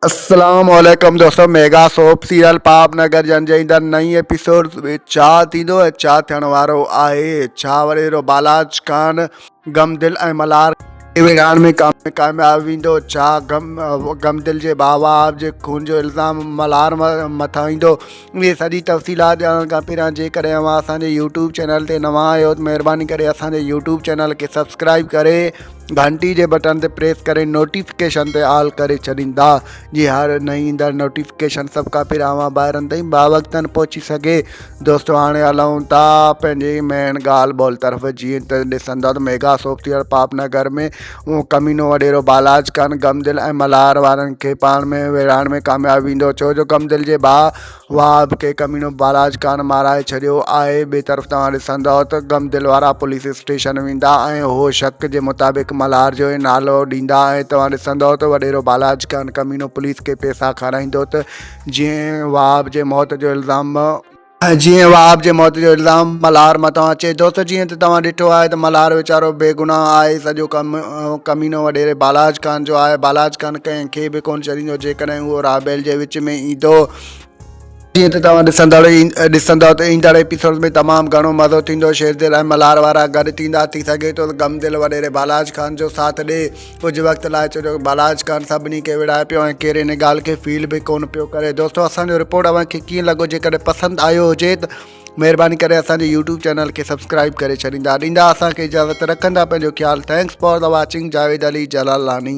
اسلام عليڪم دوستو mega soap serial Pap Nagar جن جي ايندڙ نئين ايپيسوڊ ۾ ڇا ٿيندو ۽ ڇا ٿيڻ وارو آهي ڇا وري هيرو بالاچ خان غم دل ۽ ملهار کي ويڙهائڻ ۾ ڪامياب ويندو ڇا غم دل جي بابا جي خون جو الزام ملهار مٿان ايندو اهي سڄي تفصيلات ڄاڻڻ کان پهريان جيڪڏهن اوهان اسان جي يوٽيوب چينل تي نوان آهيو ته مهرباني ڪري اسان جي يوٽيوب چينل کي سبسڪرائب ڪري گھنٽي جي بٽن تي پريس ڪري نوٽيفڪيشن تي آل ڪري ڇڏيندا جي هر نئين ايندڙ نوٽيفڪيشن سڀ کان پهريان اوهان ٻاهرن تائين باوقتن پهچي سگھي دوستو هاڻي هلون ٿا پنهنجي مين ڳالھ ٻولھ طرف جيئن ته ڏسندا ته ميگا سوپ ٿيل پاپ نگر ۾ اهو ڪمينو وڏيرو بالاچ خان غمدل ۽ ملهار وارن کي پاڻ ۾ ويڙهائڻ ۾ ڪامياب ويندو ڇو جو غمدل جي ڀاء وهاب کي ڪمينو بالاچ خان مارائي ڇڏيو آهي ٻي طرف توهان ڏسندئو ته غمدل وارا پوليس اسٽيشن ويندا ۽ اهو شڪ جي مطابق ملهار جو ئي نالو ڏيندا ۽ توهان ڏسندئو ته وڏيرو بالاچ خان ڪمينو پوليس کي پئسا کارائيندو ته جيئن وهاب جي موت جو الزام جيئن وهاب جي موت جو الزام ملهار مٿان اچي ٿو ته جيئن ته توهان ڏٺو آهي ته ملهار ويچارو بيگناهه آهي، سڄو ڪمينو وڏيري بالاچ خان جو آهي، بالاچ خان ڪنهن کي به ڪونه ڇڏيندو جيڪڏهن اهو رابيل جي وچ ۾ ايندو. جيئن ته توهان ڏسندڙ ڏسندؤ ته ايندڙ ايپيسوڊز ۾ تمام گهڻو مزو ٿيندو، شيردل ۽ ملهار وارا گڏ ٿيندا، ٿي سگهي ٿو ته غمدل وڏيري بالاچ خان جو ساٿ ڏئي. ڪجهه وقت لاء چيو جو بالاچ ڪرڻ سڀني کي وڙهائي پيو ۽ ڪير ان ڳالهه کي فيل به ڪونه پيو ڪري دوستو اسانجو رپورٽ اوهان کي ڪيئن لڳو جيڪڏهن پسند آيو هجي ته مهرباني ڪري اسانجي يوٽيوب چينل کي سبسڪرائب ڪري ڇڏيندا ڏيندا اسانکي اجازت رکندا پنهنجو خيال thanks for the watching Javed Ali Jalalani